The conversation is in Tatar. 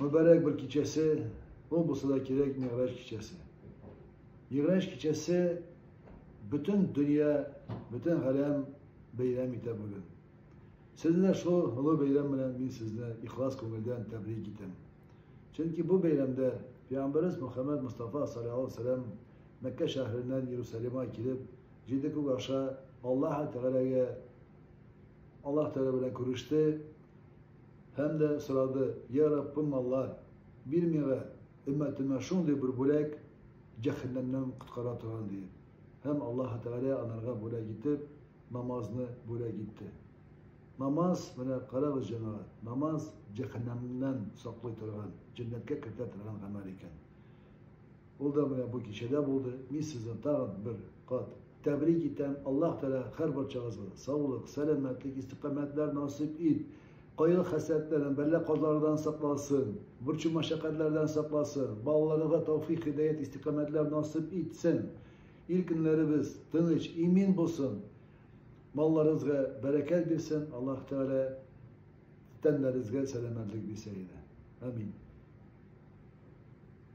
Мөбарәк бер кичәсе, ул булса да кирәк Мигъраҗ кичәсе. Мигъраҗ кичәсе бөтен дөнья, бөтен галәм бәйрәм итә бүген. Сезне дә шул олы бәйрәм белән мин сезне ихлас күңелдән тәбрик итәм. Чөнки бу бәйрәмдә Пәйгамбәрбез Мөхәммәд Мустафа саллаллаху алейһи ва саллям Мәккә шәһәреннән Иерусалимга килеп, җиде күк аша Аллаһ Тәгаләгә Аллаһ Тәгалә белән күреште һәм дә сорады, Я Раббым Аллаһ, бир миңа өммәтемә шундый бер бүләк, җәһәннәмнән коткара торган диеп. Һәм Аллаһ Тәгалә анарга бүләк итеп, намазны бүләк итте. Намаз, менә карагыз, җәмәгать, намаз җәһәннәмнән саклый торган, җәннәткә кертә торган гамәл икән. Ул да менә бу кичәдә булды. Мин сезне тагын бер кат тәбрик итәм. Аллаһ Тәгалә һәрбарчагызга саулык, сәламәтлек, истикамәтләр насыйп ит. Кайгы-хәсрәтләрдән, бәла-казалардан сакласын, борчу-мәшәкатьләрдән сакласын, балаларыгызга тәүфыйк, һидаят, истикамәтләр насыйп итсен. Ил көннәребез тыныч, имин булсын. Малларыгызга бәрәкәт бирсен. Аллаһ Тәгалә тәннәрегезгә сәламәтлек бирсә иде. Амин.